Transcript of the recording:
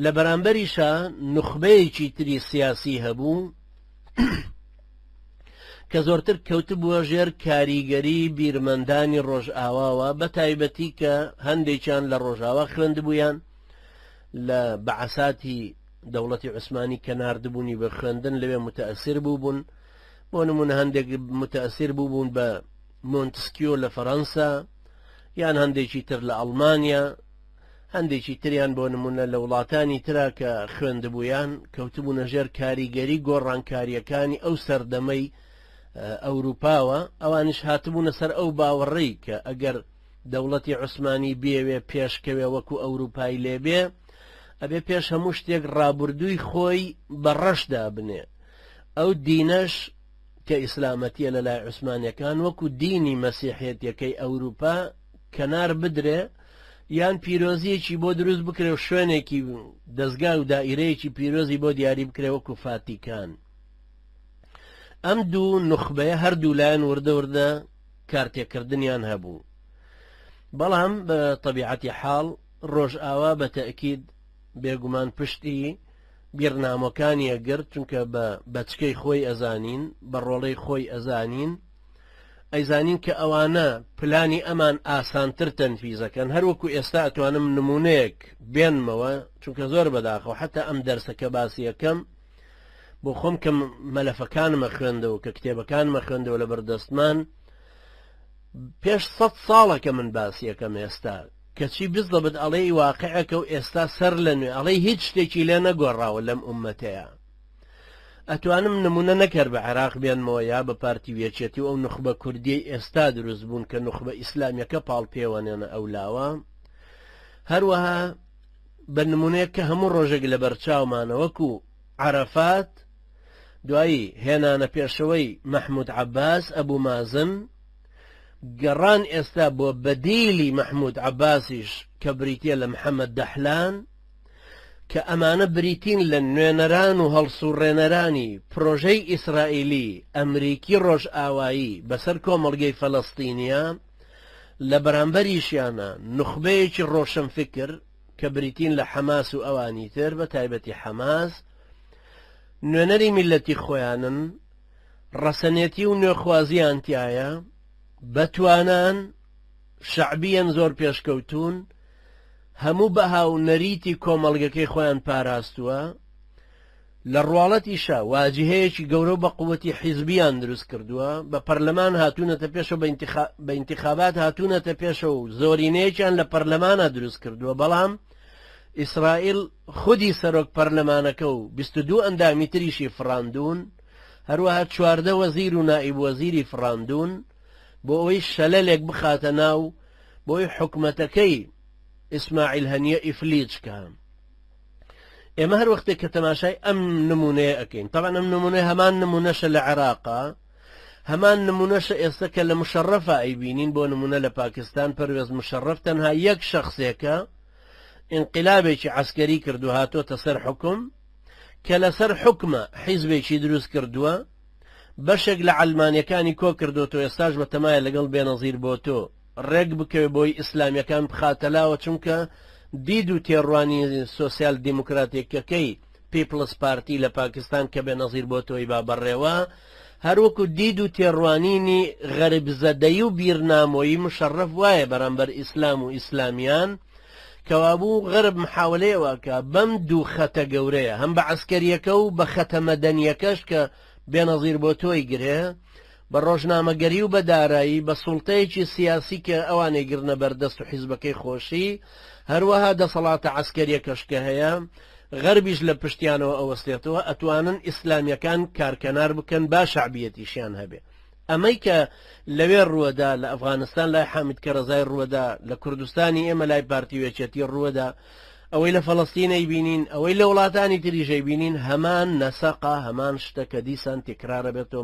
لە بەرامبەریشا نوخبەیەکی تری سیاسی هەبوو کە زۆرتر کەوتبووە ژێر کاریگەری بیرمەندانی ڕۆژئاواوە بە تایبەتی کە هەندێکیان لە ڕۆژاوا خوێندبوویان لە بەعساتی دەوڵەتی عوسمانی کە نردبوونی بە خوێندن لەوێ متەسیر بوو بوون بۆ نمونە هەندێک متەسیر بوو بوون بە مۆنتسکیۆ لە فەەنسا یان هەندێکی تر لە ئەڵمانیا هەندێکی تریان بۆ نموونە لە وڵاتانی ترا کە خوێندبوویان، کەوتبوونە ژێر کاریگەری گۆڕانکارییەکانی ئەو سەردەمەی ئەوروپاوە، ئەوانیش هاتبوونە سەر ئەو باوەڕەی کە ئەگەر دەوڵەتی عوسمانی بیەوێ پێشکەوێ وەکو ئەوروپای لێ بێ، ئەبێ پێش هەموو شتێک ڕابوردووی خۆی بە ڕەش دابنێ. ئەو دینەش کە ئیسلامەتییە لە لای عوسمانییەکان وەکو دینی مەسیحێتیەکەی ئەوروپا، کەنار بدرێ یان پیرۆزیەکی بۆ دروست بکرێ و شوێنێکی دەزگا و دائیرەیەکی پیرۆزی بۆ دیاری بکرێ وەکو فاتیکان ئەم دوو نخبەیە هەردوو لایەن وردە وردە کارتێکردنیان هەبوو بەڵام بە طبیعەتی حاڵ ڕۆژئاوا بە تەکید بێگومان پشتی بیرنامەکانیە گرت چونکە بە بەچکەی خۆی ئەزانین بە ڕۆڵەی خۆی ئەزانین ئەیزانین کە ئەوانە پلانی ئەمان ئاسانتر تەنفیزەکەن هەر وەکو ئێستا ئەتوانم نمونەیەک بێنمەوە چونکە زۆر بەداخەوە حتا ئەم دەرسە کە باسیەکەم بۆ خۆم کە مەلەفەکانمە خوێندەوە کە کتێبەکانمە خوێندەوە لە بەردەستمان پێش سە ساڵەکە من باسیەکەم ئێستا کەچی بزەبت ئەڵێی واقعەکە و ئێستا سەر لە نوێ ئەڵەی هیچ شتێکی لێ نەگۆڕاوە لەم عومەتەیە ئەتوانم نمونە نەک هەر بە عێراق بێنمەوە یا بە پارتی و یەکێتی و ئەو نوخبە کوردیەی ئێستا دروست بوون کە نوخبە ئیسلامیەکە پاڵ پێوەنێنە ئەو لاوە هەروەها بە نمونەیەک کە هەموو ڕۆژێک لە بەرچاومانە وەکو عرفات دوایی هێنانە پێشەوەی مححمود عباس ئەبوو مازن گەڕان ئێستا بۆ بەدیلی مححمود عباسیش کە بریتە لە محەممەد دەحلان کە ئەمانە بریتین لە نوێنەران و هەڵسوڕێنەرانی پرۆژەی ئیسرائیلی، ئەمریکی ڕۆژئاوایی بەسەر کۆمەڵگەی فەلەستینیا، لە بەرامبەریشیانا نوخبەیەکی ڕۆشنفکر کە بریتین لە حەماس و ئەوانی تر بە تایبەتی حەماس نوێنەری میلەتی خۆیانن ڕەسەنێتی و نوێخوازیان تایە بەتوانان شەعبیەن زۆر پێشکەوتوون هەموو بەها و نەریتی کۆمەڵگەکەی خۆیان پاراستووە لە ڕواڵەتیشە واجهەیەکی گەورە و بە قووەتی حیزبیان دروست کردووە بە پەرلەمان هاتوونەتە پێشە بە ئینتخابات هاتوونەتە پێشە و زۆرینەیەکیان لە پەرلەمانە دروست کردووە بەڵام ئیسرائیل خودی سەرۆک پەرلەمانەکە و 22 ئەندامی تریشی فراندون هەروەها چواردە وەزیر و نائیب وەزیری فراندون بۆ ئەوەی شەلەلێک بخاتە ناو بۆی حکومەتەکەی ئیسماعیل هەنیە ئیفلیجکە ئێمە هەر وەختێک کە تەماشای ئەم نمونەیە ئەەکەین تاوان ئەم نمونە هەمان نمونەشە لە عێراقا هەمان نمونەشە ئێستا کە لە مشەڕەفە ئەیبینین بۆ نمونە لە پاکستان پەروێز مشەڕف تەنها یەک شخصێکە انقلابێکی عسکەری کردو هاتۆتە سەر حکم کە لەسەر حکمە حیزبێکی دروست کردووە بەشێک لە عەلمانیەکانی کۆ کردۆتەوە ئێستاش بە تەمایە لەگەڵ بێنەزیر بۆتۆ ڕێک بکەوێت بۆی ئیسلامیەکان بخاتە لاوە چونکە دید و تێڕوانی سۆسیال دیموکراتیکەکەی پیپڵس پارتی لە پاکستان کە بێنەزیر بۆتۆی با بەڕێوە هەروەکو دید و تێڕوانینی غەربزەدەی و بیرنامۆیی مشەڕەف وایە بەرامبەر ئیسلام و ئیسلامیان کەوابوو غەرب محاولەی ئەوەکا بەم دوو خەتە گەورەیە هەم بە عەسکەریەکە و بە خەتە مەدەنیەکەش کە بێنەزیر بۆ تۆی گرێ بە ڕۆژنامەگەری و بە دارایی بە سوڵتەیەکی سیاسی کە ئەوانەی گرنە بەردەست و حیزبەکەی خۆشی هەروەها دەسەڵاتە عەسکەریەکەش کە هەیە غەربیش لە پشتیانەوە ئەوەستێتەوە ئەتوانن ئیسلامیەکان کارکەنار بکەن با شعبیەتیشیان هەبێ ئەمەی کە لەوێ ڕووەدا لە ئەفغانستان لای حامید کەرەزای ڕووەدا، لە کوردستانی ئێمە لای پارتی و یەکێتی ڕووەدا، ئەوەی لە فەڵەستین ئەیبینین، ئەوەی لە وڵاتانی تریش ئەیبینین هەمان نەسەقە، هەمان شتە کە دیسان تکرارەبێتەوە،